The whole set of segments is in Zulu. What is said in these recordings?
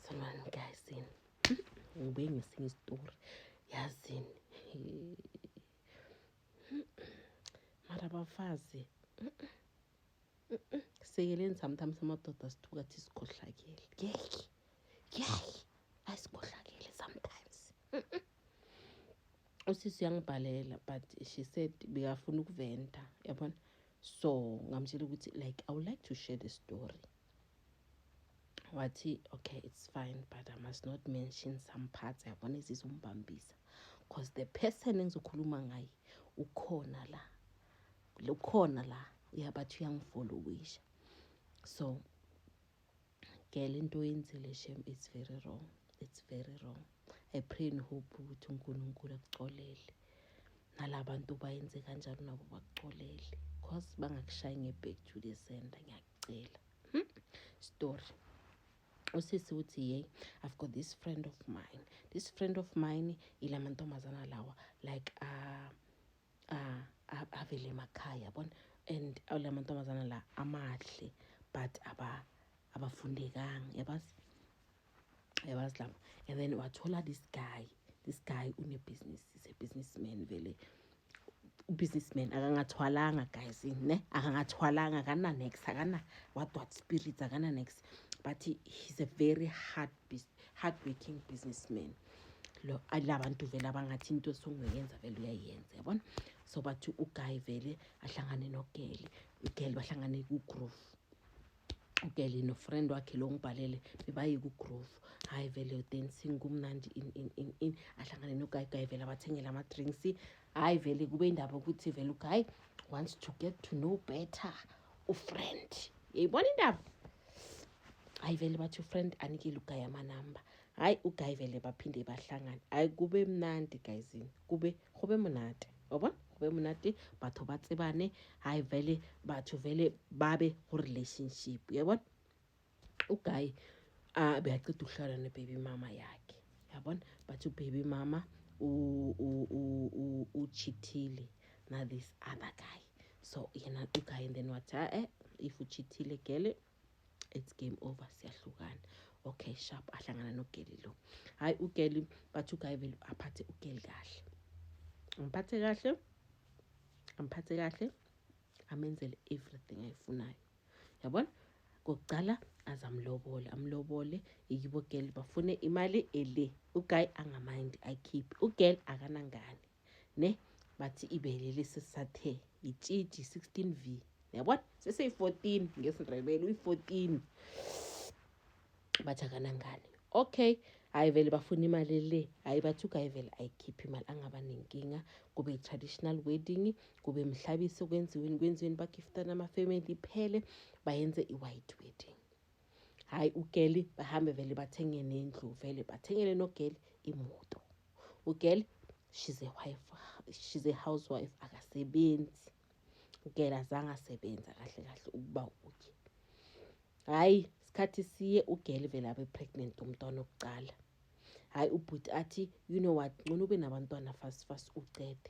Sanibani guys yini. Ngibuye ngesinye isitori. Yazini. Mara bafazi. Sikeleni sometimes amadoda sithuka thi sikhohlakele. Ngeke. Ngeke. Ayisikhohlakele sometimes. Usisi uyangibhalela but she said bekafuna ukuventa. Yabona? so ngamtshela ukuthi like i would like to share the story wathi okay it's fine but i must not mention some parts yabona ezizombambisa because the person engizokhuluma ngaye ukhona la ukhona la uyabathi uyangifollowisha so girl into oyenzile shem it's very wrong it's very wrong i pray and hope ukuthi unkulunkulu akucolele nala bantu bayenze kanjalo nabo bakucolele cause bangakushayi nge-back to the center ngiyakucela hmm? story usisi uthi yey i've got this friend of mine this friend of mine ila mantombazana lawa like uh, ah avele emakhaya yabona and la mantombazana la amahle but aba abafundekanga yabazi yabazi laba and then wathola this guy this guy unebusiness is a businessman vele ubusinessman akangathwalanga guys ne akangathwalanga akana next akana what what spirits akana next but he, he's a very hard hardworking businessman lo labantu vele abangathi into esunguyenza vele uyayenza yabona so bathi uguy vele ahlangane nogeli ugeli bahlangane kugroove ugeli nofriend wakhe lo ngibhalele bebaye kugroove hhayi vele udancing kumnandi in in in in ahlangane nogayigayi vele abathengele ama-drinks hhayi vele kube indaba ukuthi vele ugayi wants to get to know better ufriend yayibona indaba hayi vele bathi ufriend anikile ugayi amanamba hayi ugayi vele baphinde bahlangane hayi kube mnandi guyzini kube gobe monate wabona gobe monate batho ba tsebane hayi vele batho vele babe go relationship yabona ugayi a beyaceda ukuhlala nebaby mama yakhe yabona bathi ubaby mama uchithile na this other guy so yena ugayi and then wathi a-e eh, if uchithile gele it's game over siyahlukana okay sharp ahlangana nogeli lo hayi ugeli bathi ugayi vele aphathe ugeli kahle amphathe kahle amphathe kahle amenzele everything ayifunayo yabona kokuqala azamlobole amlobole yibo girl bafune imali ele uguy angamindi ayikhiphe ugirl akanangane ne bathi ibele lesi sathe itshitshi 16 v yabona seseyi-14 ngesindebele uyi-14 bathi akanangane okay hhayi vele bafuna imali le hhayi bathi ugaye vele ayikhiphe imali angaba nenkinga kube i-traditional wedding kube mhlabisi okwenziweni kwenziweni bagiftana amafamily iphele bayenze i-white wedding hayi ugeli bahambe vele bathenge nendlu vele bathengele nogeli imoto ugeli she's a wife she's a housewife akasebenzi ugeli azange asebenza kahle kahle ukuba uye hhayi sikhathi siye ugeli vele abe pregnant umntwana okucala hhayi ubhuti athi you know what ncono ube nabantwana fast fast ucede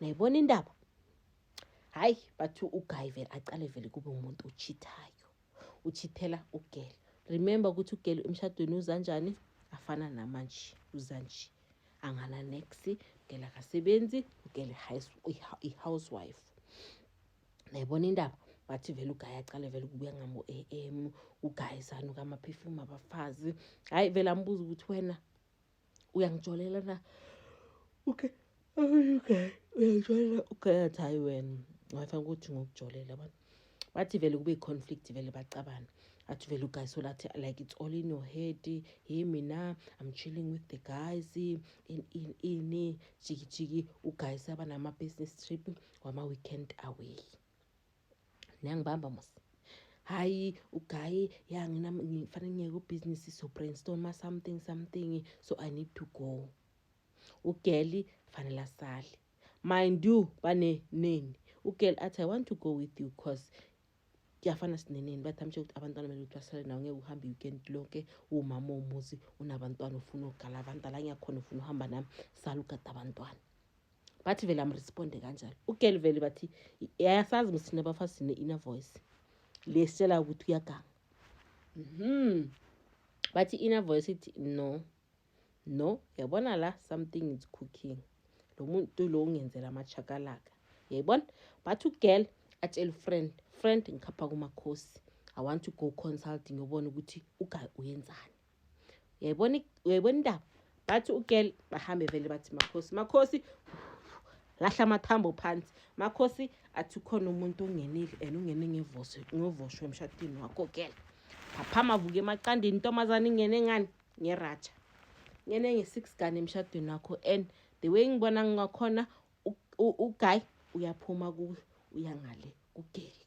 nayibona indaba hayi bathi uguy vele aqale vele kube umuntu ochithayo uchithela ugele remember ukuthi ugele emshadweni uzanjani afana namanje uzanje angana nex ugele akasebenzi ugele i-housewife nayibona indaba bathi vele ugayi aqale vele ukubuya ngamo-a m ugayisani ukamaphefumu abafazi hhayi vele ambuza ukuthi wena uyangijolela na okay okay uyangijolela okay athi hayi wena wayefana ukuthi ngokujolela abantu bathi vele kube i-conflict vele bacabana athi vele uguys so lathi like it's all in your head hey mina i'm chilling with the guys in in ini jikijiki uguys abanama-business trip wama-weekend away niyangibamba mos hayi ugaye ya ngina ngifanele ngiyeke ubhizinisi so brainstorma something something so i need to go ugeli fanele asale mind you bane neni ugeli athi i want to go with you cause kuyafana sineneni bathi amshe ukuthi abantwana kumele ukuthi basale nawo ngeke uhambe i-weekend lonke uwumama womuzi unabantwana ufuna ukugala abantwana la ngiyakhona ufuna uhamba nami sala ugada abantwana bathi vele amresponde kanjalo ugeli vele bathi yayasazi msina abafazi sine-inner voice le sitshela ukuthi uyaganga mm -hmm. bathi inner voice ithi no no yabona la something is cooking lo muntu lo ungenzela amachakalaka yayibona bathi ugirl atshela ufriend friend ngikhapha kumakhosi i want to go consulting yobona ukuthi ugayi uyenzani uyayibona uyayibona indaba bathi ugirl bahambe vele bathi makhosi makhosi lahla amathambo phansi makhosi athi ukhona umuntu ongenile and ungene ngevoshwe emshadini wakho girl phaphama vuke emaqandini intombazane ingene ngani ngeratsha ngene nge-six gane emshadweni wakho and the way ngibona ngakhona uguy uyaphuma kuyo uyangale kugeli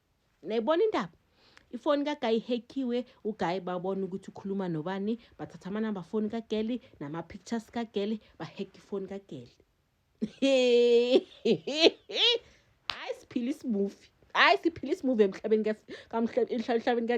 Nayibona indaba. Ifoni kaGuy ihackiwe, uGuy babona ukuthi ukhuluma nobani, bathatha amanamba foni kaGirl nama pictures kaGirl, bahack ifoni kaGirl. Hayi siphila isimuvi. Hayi siphila isimuvi emhlabeni ka emhlabeni ka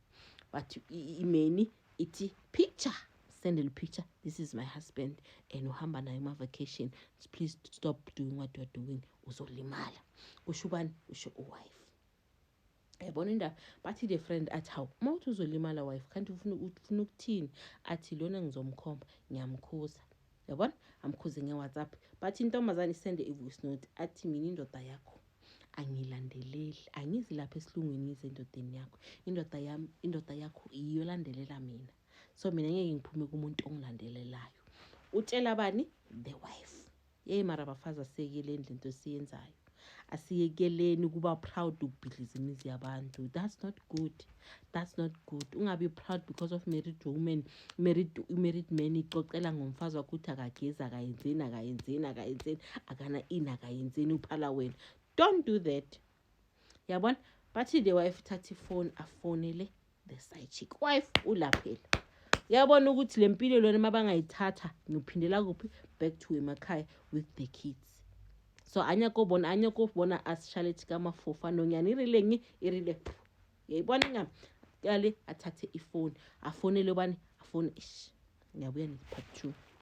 but imeni ithi picture send a picture this is my husband and uhamba naye uma-vacation please stop doing what you're doing uzolimala kusho ubani usho uwife yabona indaba bathi the friend athi hawu uma uthi uzolimala wife kanti ufuna ukuthini athi lona ngizomkhomba ngiyamkhuza yabona amkhuze ngewhatsapp bathi intombazane isende i-voice note athi mina indoda yakho angilandeleli angizi lapha esilungwini ngize endodeni yakho indoda yam indoda yakho yiyo landelela mina so mina ngeke ngiphume kumuntu ongilandelelayo utshela bani the wife yeyi mara bafazi asiyekeleni lento esiyenzayo asiyekeleni ukuba proud ukubhidliza imizi yabantu that's not good that's not good ungabi proud because of married woman married married man ixoxela ngomfazi wakho ukuthi akagezi akayenzeni akayenzeni akayenzeni akana ini akayenzeni uphala wena don't do that yabona bathi the wife thatha ifoni afonele the side chick wife ulaphela uyabona ukuthi le mpilo lona uma bangayithatha ngiphindela kuphi back to emakhaya with the kids so anya kobona anya kobona asishalethi kamafofa nonyana irile ngi irile yayibona inyama kale athathe ifoni afonele ubani afone ish ngiyabuya ne-part two